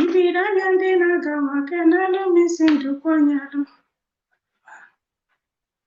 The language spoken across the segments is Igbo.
Ibiri anya ndị na-aga maka n'alụ m isi ndụkwa nyalụ.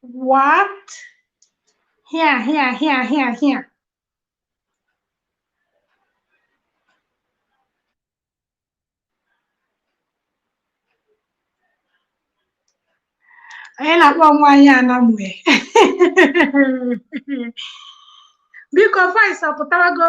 What? Here, here, here, here, here. anyị na-akpọ nwaanyị anamue biko voice ọ pụtago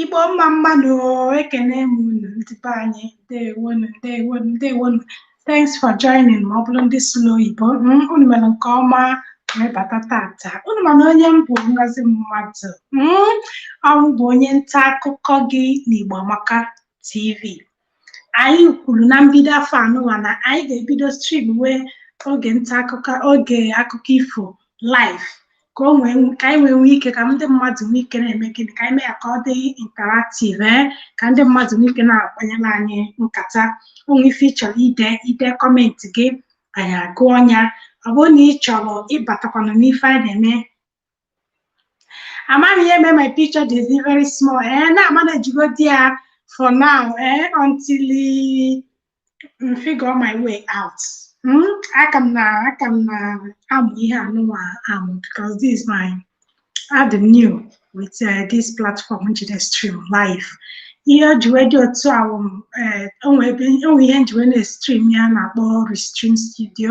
Igbo mma mma nụ ekene m unu ndị be anyị ndewonu ndewonu ndewonu thanks for joining ma ọ bụrụ ndị sụlụ oyibo mm, unu mere nke ọma wee bata tata unu mana onye m bụ ngozi mmadụ mm, ọrụ bụ onye nta akụkọ gị n'Igbo Amaka TV anyị kwuru na mbido afọ anụwa na anyị ga-ebido streamwe oge nta akụkọ oge akụkọ ifo live ka o nwee ka anyị nwee nwee ike ka ndị mmadụ nwee ike na-eme gịnị ka anyị mee ya ka ọ dị interactive ee ka ndị mmadụ nwee ike na-akpanyere anyị nkata o nwee ife ị chọrọ ide i dee comment gị anyị agụọ ya ọ bụrụ na ị chọrọ ịbatakwanụ n'ife anyị na-eme amaghị ihe mee my picture ji dị very small ee na-amanage godi ya for now ee until m figure my way out Hmm? aka m na aka m na-amụ ihe anụnwa amụ because this is my adị m new with uh, this platform m ji estream live ihe o ji wee dị otu ahụ m, eh, o nwee ebe- o nwee ihe m ji wee na-estream ya a na-akpọ restream studio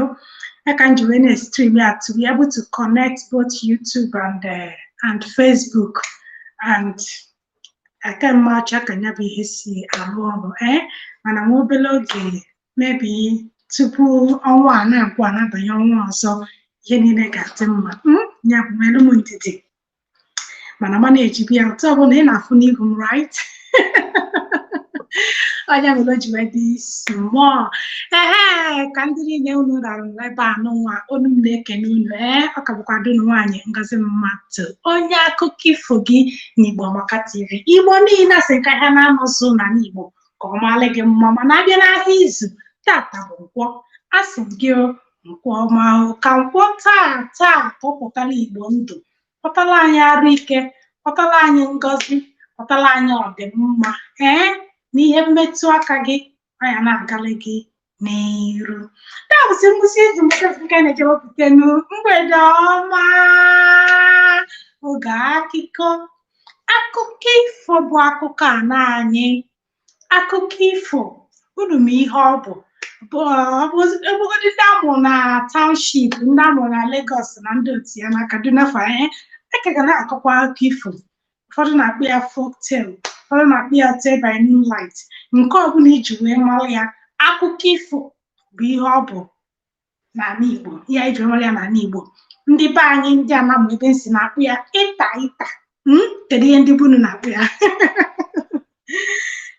ya ka m ji wee na-estream ya to be able to connect both YouTube and uh, and Facebook and aka m amacha ka ya bụ ihe si arụ ọrụ ee mana nwa obere oge maybe tupu ọnwa a na-agwụ a na-abanye ọnwa ọzọ ihe niile ga-adị mma ya bụ nweere m ndidi mana manage be ya otu ọbụla ị na-afụ n'ihu m right ọ nya mere o ji wee dị small ee ka ndị niile unu ra nọ ebe anụnwa unu m na-ekene unu ee ọ ka bụkwa dunu nwaanyị ngozi mmadụ onye akụkọ ifo gị n'igbo amaka tv igbo niile asị ka ahịa naanọ zụ n'ana igbo ka ọ maalị gị mma mana a bịa n'ahịa izu tata bụ nkwọ asị m gị o nkwọ ọma o ka nkwọ taa taa ka ọ pụtara igbo ndụ kpọtara anyị arụ ike kpọtara anyị ngọzi kpọtara anyị ọdịmma ee na ihe i metụ aka gị nya na-agalị gị n'iru taa bụzi ngwụsị izu nke a na-eji ewepụta nu mgbede ọma oge akụkọ akụkọ ifo bụ akụkọ ana anyị akụkọ ifo unu ma ihe ọ bụ ị bụgodi ndị a mụ na township ndị a mụ na Lagos na ndị otu ya na Kaduna fa ee a ka ga na-akọkwa akụkọ ifo ụfọdụ na-akpọ ya folk tale ụfọdụ na-akpọ ya tale by moonlight nke ọbụla i ji wee mara ya akụkọ ifo bụ ihe ọ bụ n'ala Igbo ihe anyị jiri mara ya n'ala Igbo ndị be anyị ndị Anambra ebe m si na-akpọ ya ịta ịta hmm? kedu ihe ndị be unu na-akpọ ya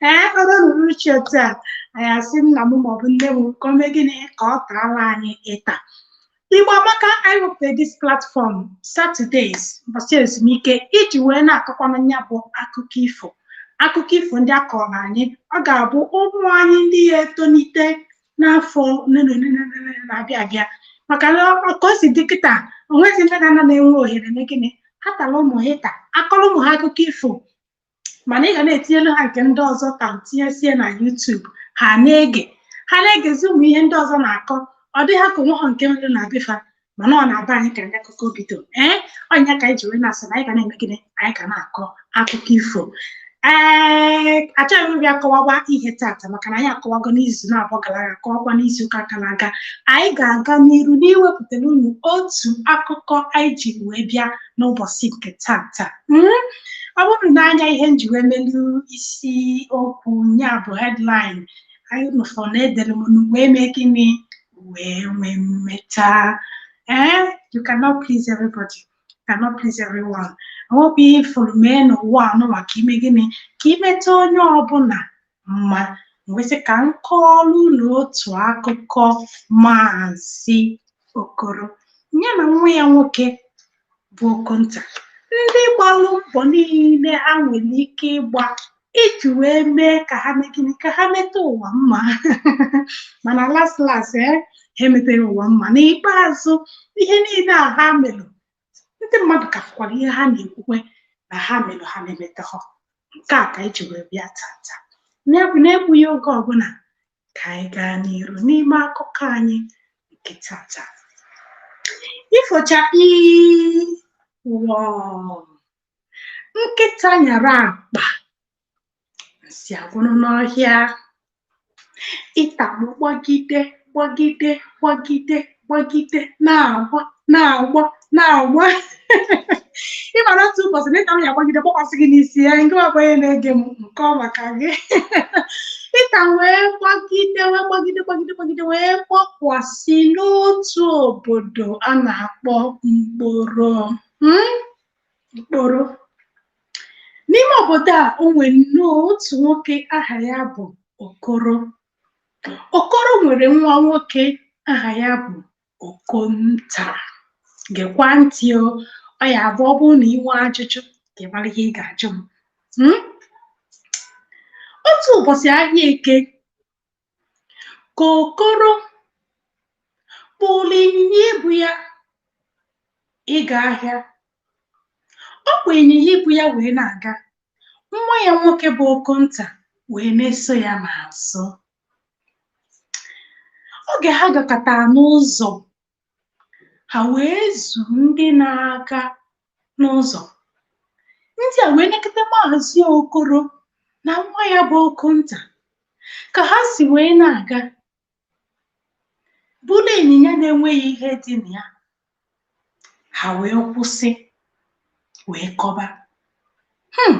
ee eh, o ruo uchichi otu a anyị asị nna m maọbụ nne m ka o mee gịnị ka ọ taala anyị ịta Igbo Amaka anyị wepụtara this platform Saturdays ụbọchị ezumike iji wee na-akọkwanụ ya bụ akụkọ ifo akụkọ ifo ndị a kọrọ anyị ọ ga-abụ ụmụ anyị ndị ya-etolite n'afọ ole na ole na ole na ole na-abịa abịa maka na ọ- ka o si dị kịta o nwezi nne na nna na-enwe ohere ime gịnị ha taara ụmụ ha ịta a kọọrọ ụmụ ha akụkọ ifo mana ị ga na-etinyelu ha nke ndị ọzọ ta tinyesie na YouTube ha na-ege ha na-egezi ụmụ ihe ndị ọzọ na-akọ ọ dị ha ka o nwehọ nke e nwere na be fa mana ọ na be anyị ka ndị akụkọ bido ee ọ nya ka anyị ji wee na-asị na anyị ga na-eme gịnị anyị ga na-akọ akụkọ ifo ee achọghị m ịbịa kọwawa ihe tata maka na anyị akọwago n'izu naabọ gara aga kọwakwa n'izu ụka gara aga anyị ga-aga n'iru n'iwepụtara unu otu akụkọ anyị ji wee bịa n'ụbọchị nke tata Mm? ọ bụrụ na anya ihe m ji wee melu isi okwu ya bụ headline anyị unu afụ na edere m ụwa eme gịnị ụwa enwe mmeta ee you cannot please everybody you cannot please everyone o nwehọ ihe ị fụrụ mee n'ụwa nụnwa ka i mee gịnị ka i meta onye ọbụla mma m wee sị ka m kọọrọ unu otu akụkọ maazị Okoro ya na nwa ya nwoke bụ Okonta ndị gbalụ mbọ niile ha nwere ike ịgba iji wee mee ka ha mee gịnị ka ha meta ụwa mma mana las las e ha emetaghị ụwa mma n'ikpeazụ ihe niile a ha melụ ndị mmadụ ka fụkwara ihe ha na-ekwukwa na ha melụ ha emetahọ nke a ka e ji wee bịa tata na-egbughị oge ọbụla ka anyị gaa n'iru n'ime akụkọ anyị nke tata ifo chakpii wọọ nkịta nyara akpa nsị agwụrụ n'ọhịa ịta mụ gbagide gbagide gbagide gbagide na-agba na-agba na-agba ị mara otu ụbọchị na ịta m ya gbagide gbakwasị gị n'isi ya nke ọbụ onye na-ege m nke ọ maka gị ịta wee gbagide wee gbagide gbagide gbagide wee gbakwasị n'otu obodo a na-akpọ mkporo Hmm? mkporo n'ime obodo a o nwere nnọọ otu nwoke aha ya bụ okoro Okoro nwere nwa nwoke aha ya bụ Okonta. Gekwa ntị o, ọ ya-abụ ọ bụrụ na ị nwee ajụjụ ka ị mara ihe ị ga-ajụ m. Hmm? Otu ụbọchị ahịa eke ka Okoro kpụrụ ịnyịnya ibu ya ịga ahịa. Ọ kpụ ịnyịnya ibu ya wee na-aga nwa ya nwoke bụ Okonta wee na-eso ya n'azụ oge ha gakatara n'ụzọ ha wee zu ndị na-aga n'ụzọ ndị a wee nekata maazị Okoro na nwa ya bụ Okonta ka ha si wee na-aga kpụrụ ịnyịnya na-enweghị ihe dị na ya ha wee kwụsị wee kọba hmm.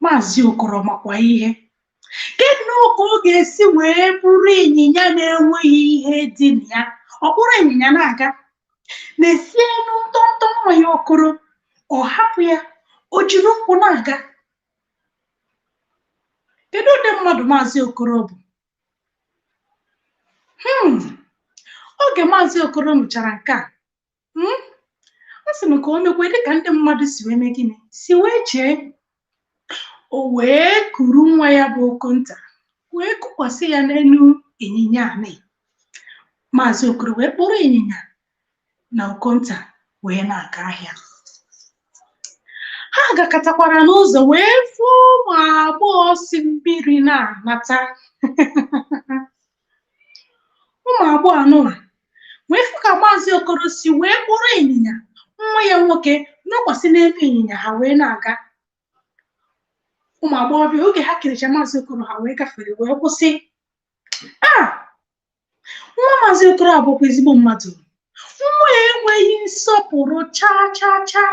maazị okoro makwa ihe kedu ka ọ ga-esi wee kpụrụ ịnyịnya na-enweghị ihe dị na ya ọ kpụrụ ịnyịnya na-aga nesienụ ntọntọ nwa ya okoro ọ hapụ ya o jiri ụkwụ na-aga kedu ụdị mmadụ maazị okoro bụ hmm. oge maazị okoro nụchara nke a hmm, ọ sị na ka o mekwa dịka ndị mmadụ si wee mee gịnị si wee chee o wee kuru nwa ya bụ okonta wee kukwasị ya n'elu ịnyịnya anị maazị okoro wee kpụrụ ịnyịnya na Okonta wee na-aga ahịa ha gakatakwara n'ụzọ wee fụ ụmụ agbọghọ si mmiri na-anata ụmụ agbọghọ anụwa wee fụ ka maazị okoro si wee kpụrụ ịnyịnya nwa ya nwoke nọkwasị n'elu ịnyịnya ha wee na-aga ụmụ agbọghọbịa oge ha kiricha maazị okoro ha wee gafere wee kwụsị a nwa maazị okoro a bụkwa ezigbo mmadụ nwa ya enweghị nsọpụrụ chaa chaa chaa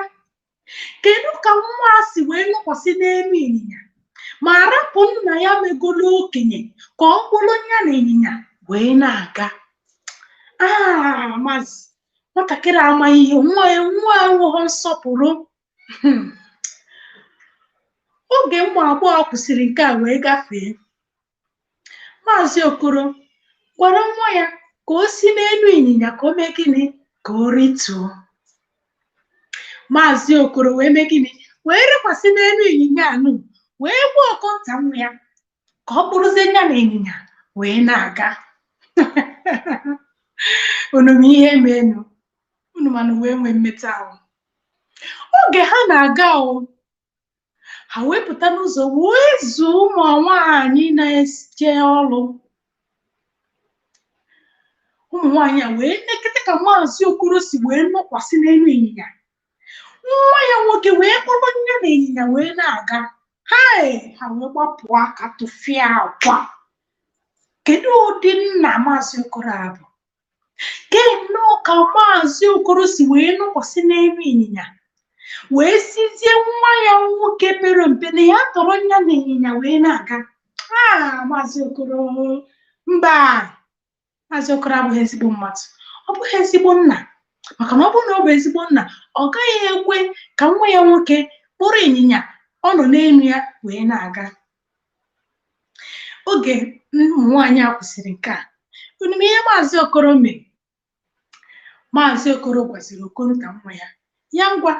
kedu ka nwa a si wee nọkwasị n'elu ịnyịnya ma rapụ nna ya megolo okenye ka ọ kpụrụ ya na ịnyịnya wee na-aga aa maazị nwatakịrị amaghị ihe nwa ya nwa enweghị nsọpụrụ Hmm. oge ụmụ agbọghọ kwusịrị nke a wee gafee maazị okoro gwara nwa ya ka o si n'elu ịnyịnya ka o mee gịnị ka o rituo maazị okoro wee mee gịnị wee rịkwasị n'elu ịnyịnya anụ wee gwa okonta nwa ya ka ọ kpụrụzie ya na ịnyịnya wee na-aga unu ma ihe meenụ unu mana wee nwee mmeta ahụ oge ha na-aga o ha wee pụta n'ụzọ wee zuo ụmụ nwaanyị na-eje ọrụ ụmụ nwaanyị a wee nekete ka maazị okoro si wee nọkwasị n'elu ịnyịnya nwa ya nwoke wee kpọrọ ya na ịnyịnya wee na-aga hei ha wee gbapụ aka tụfịakwa kedu ụdị nna maazị okoro a bụ kee nnọọ ka maazị okoro si wee nọkwasị n'elu ịnyịnya wee sịzie nwa ya nwoke pere mpe na ya dọrọ ya na ịnyịnya wee na-aga a maazị okoro mba maazị okoro abụghị ezigbo mmadụ ọ bụghị ezigbo nna maka na ọ bụrụ na ọ bụ ezigbo nna ọ gaghị ekwe ka nwa ya nwoke kpụrụ ịnyịnya ọ nọ n'elu ya wee na-aga oge ụmụ nwaanyị a kwusịrị nke a unu ma ihe maazị okoro mere maazị okoro gwaziri okonta nwa ya ya ngwa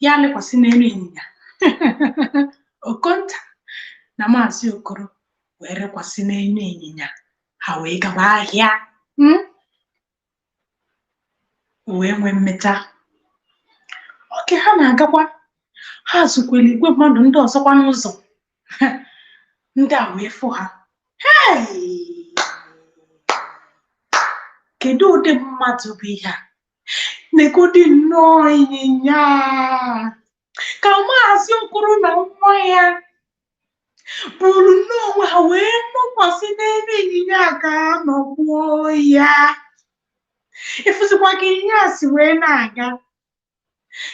ya rịkwasị n'elu ịnyịnya okonta na maazị okoro wee rịkwasị n'elu ịnyịnya ha wee gaba ahịa mm? wee nwee mmeta oge ha na-agakwa ha zukwere igwe mmadụ ndị ọzọkwa n'ụzọ ndị a wee fụ ha "Hey! kedu ụdị mmadụ bụ ihe a negodi nnọọ ịnyịnya ka maazị okoro na nwa ya buru nnọọ onwe ha wee nọkwasị n'elu ịnyịnya ka ha nọgbuo ya ị fụzikwa ka ịnyịnya a si wee na-aga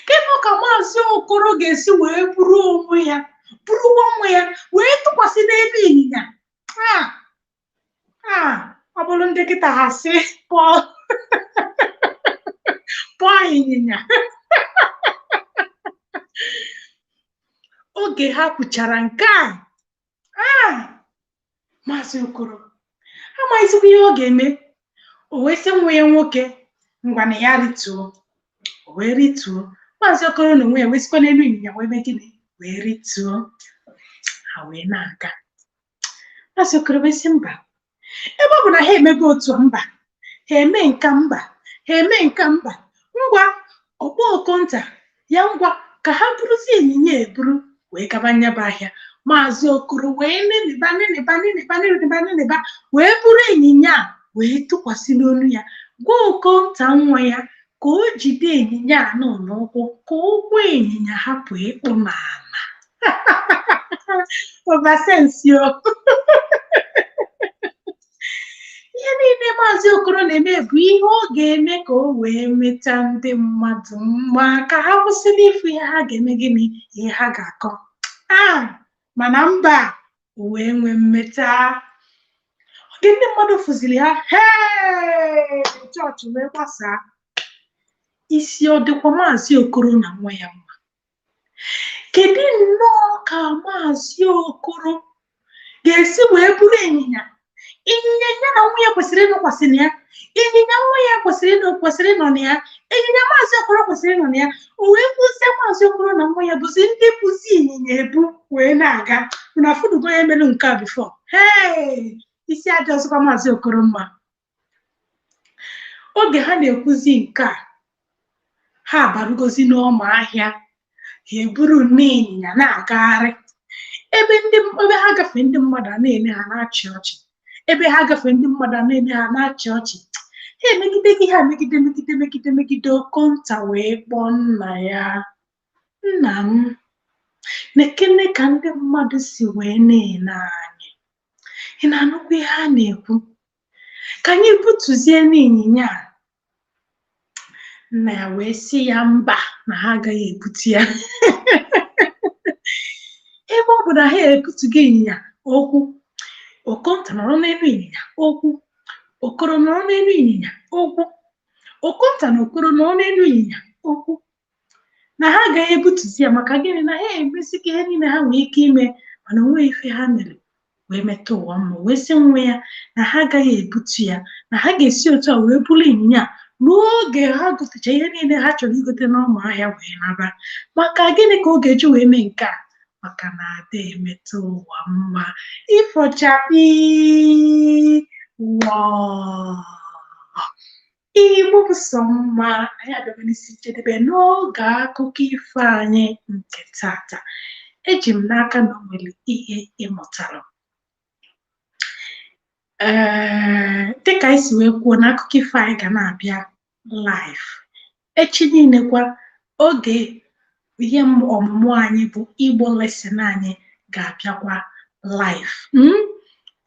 kedu ka maazị okoro ga-esi wee buru onwe ya burukwa nwa ya wee tụkwasị n'elu ịnyịnya a ọ bụrụ ndị kịta ha sị poor poor ịnyịnya oge ha kwuchara nke a maazị okoro amaghịzikwa ihe ọ ga-eme o wee sị nwa ya nwoke ngwa na ya rituo o wee rituo maazị okoro n'onwe ya wee sikwa n'elu ịnyịnya wee mee gịnị wee rituo ha wee na-aga maazị okoro wee sị mba ebe ọ bụ na ha emego otu mba ha eme nka mba ha eme nka mba ngwa ọ kpọọ okonta ya ngwa ka ha buruzie ịnyịnya eburu wee gaba nya bụ ahịa maazị okoro wee neneba neneba neneba neneba neneba wee buru ịnyịnya a wee tụkwasị n'onu ya gwa okonta nwa ya ka o jide ịnyịnya anụ n'ụkwụ ka ụkwụ ịnyịnya hapụ ịkpụ n'ana ovasensio ihe niile maazị okoro na-eme bụ ihe ọ ga-eme ka o wee meta ndị mmadụ mma ka ha kwụsị n'ịfụ ihe ha ga-eme gịnị ihe ha ga-akọ a mana mba ụwa enwe mmeta oge ndị mmadụ fụziri ha hee chọọchị wee gbasaa isi ọ dịkwa maazị okoro na nwa ya mma kedu nnọọ ka maazị okoro ga-esi wee buru ịnyịnya ịnyịnya ya na nwa ya kwesịrị ịnọkwasị na ya ịnyịnya nwa ya kwesịrị ịnọ kwesịrị ịnọ na ya ịnyịnya maazị okoro kwesịrị ịnọ na ya o wee kwụzie maazị okoro na nwa ya bụzi ndị buzi ịnyịnya ebu wee na-aga na a fụdugo onye melu nke a bifọ hee isi adị ọzọkwa maazị okoro mma oge ha na-ekwuzi nke a ha abarugozi n'ọma ahịa ha eburunụ ịnyịnya na-agagharị ebe ndị ebe ha gafee ndị mmadụ a na-ele ha na-achị ọchị ebe ha gafee ndị mmadụ a na-ele ha na-achị ọchị ha emegide gị ha megide megide megide megide okonta wee kpọọ nna ya nna m nekene ka ndị mmadụ si wee na-ele anyị ị na-anụkwa ihe a na-ekwu ka anyị butuzienụ ịnyịnya a nna ya wee sị ya mba na ha agaghị ebutu ya ebe ọ bụ na ha ebutughị ịnyịnya okwu okonta nọrọ n'elu ịnyịnya okwu okoro nọrọ n'elu ịnyịnya okwu okonta na okoro nọrọ n'elu ịnyịnya okwu na ha agaghị ebutuzi ya maka gịnị na ha emesịgo ihe niile ha nwee ike ime mana o nweghị ife ha mere wee meta ụwa mma wee sị nwa ya na ha agaghị ebutu ya na ha ga-esi otu a wee buru ịnyịnya ruo oge ha gotecha ihe niile ha chọrọ igote n'ọma ahịa wee naba maka gịnị ka ọ ga-eji wee mee nke a maka na ada emeta ụwa mma ifo chakpii Igbo bụ sọ mma anyị abịago n'isi njedebe n'oge akụkọ ifo anyị nke tata eji m n'aka na o nwere ihe ị mụtara ee dịka anyị si wee kwuo na akụkọ ifo anyị ga na-abịa live echi niile kwa oge ihe m- ọmụmụ anyị bụ Igbo lesson anyị ga-abịakwa live mm?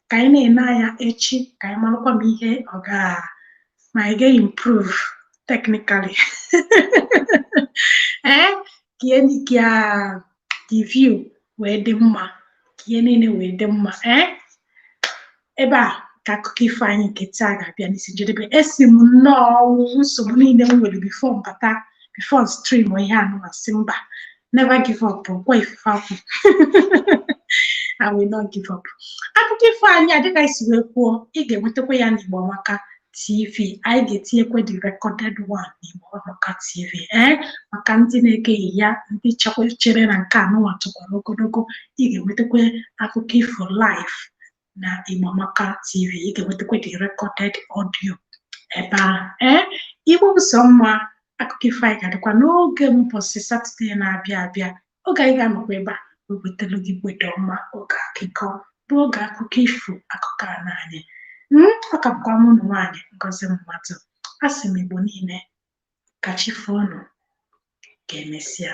ka anyị na-ene anya echi ka anyị marakwa ma ihe ọ ga ma anyị ga-improve technically ee eh, ka ah, the view wee dị mma ka ihe niile wee dị mma ee eh, ebe a ka akụkọ ifo anyị nke taa ga-abịa n'isi njedebe esi m nnọọ ọ bụ nsogbu niile m nwere before m bata before stream ihe a nụwa asị mba never give up ọ kwa ifufe akwụ I will not give up akụkọ ifo anyị a dịka anyị si wee kwuo ị ga-enwetakwa ya n'Igbo Amaka TV anyị ga-etinyekwa the recorded one n'Igbo Amaka TV ee maka ndị na-egeghị ya ndị chekwa chere na nke a nụwa tokwara ogologo ị ga-enwetakwa akụkọ ifo live na Igbo Amaka TV ị ga-enwetakwa the recorded audio ebe ahụ ee Igbo bụ sọ mma akụkọ ifo anyị ga-adịkwa n'oge mbọsị satọde na-abịa abịa oge anyị ga-anọkwa ebe a wewetelu gị mgbede ọma oge akụkọ bụ oge akụkọ ifo akụkọ ana anyị ọ ka bụkwa mụnwa nwaanyị Ngozi Mmadụ asị m Igbo niile ka chi foo unu ka emesịa